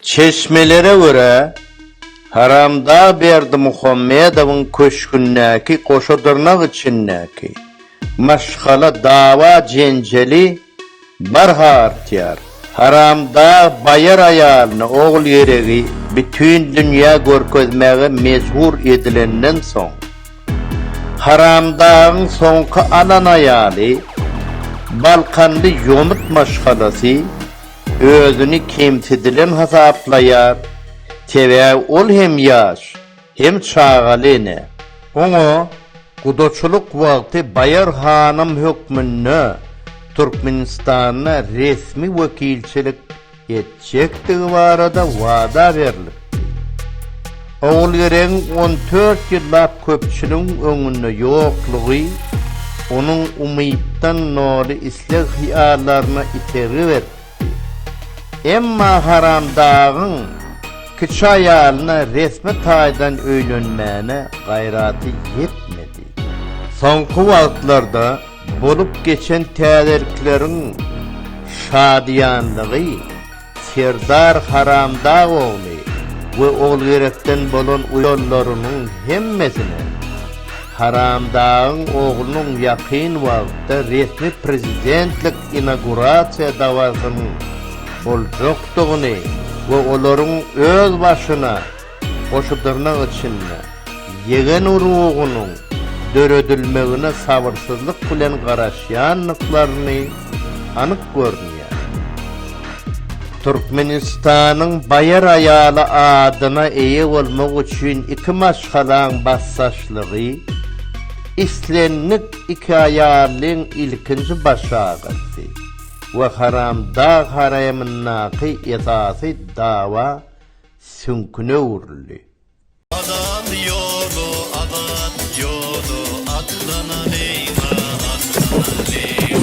Çeşmelere görä, Haramdag Berdimuhamedowyň köşgündäki goşadyrnak içindäki maşgala dawa-jenjeli barha artýar. Haramdag baýar aýalyny ogul-geregi bütin dünýä görkezmäge mejbur edilenden soň, Haramdagyň soňky alan aýaly balkanly ýomut maşgalasy, Özüni kemsidilen hasaplaýar, sebäbi ol hem ýaş, hem çagaly ene. Oňa gudaçylyk wagty Baýar hanym hökmünde Türkmenistanda resmi wekilçilik etjekdigi barada wada berlipdi. Ogulgeregiň on dört ýyllap köpçüligiň öňünde ýoklugy onuň umytdan doly isleg-hyýallaryna itergi beripdi. Emma Haramdagyň kiçi aýalyna resmi taýdan öýlenmäne gaýraty ýetmedi. Soňky wagtlarda bolup geçen täzelikleriň şadyýanlygy Serdar Haramdag ogly we Ogulgerekden bolan uýallarynyň hemmesine Haramdagyň oglunyň ýakyn wagtda resmi prezidentlik inagurasiýa dabarasynyň boljakdygyny we olaryň özbaşyna Goşudyrnak içinde, ýegen urugynyň döredilmegine sabyrsyzlyk bilen garaşýandyklaryny anyk görünýär. Türkmenistanyň baýar aýaly adyna eýe bolmak üçin iki maşgalaň basdaşlygy, islendik iki aýallyň ilkinji baş agyrysy we haramdag haremyndaky esasy dawa süňküne öwrüldi. Azat ýoly, azat ýoly, atlanalyň-a, atlanalyň!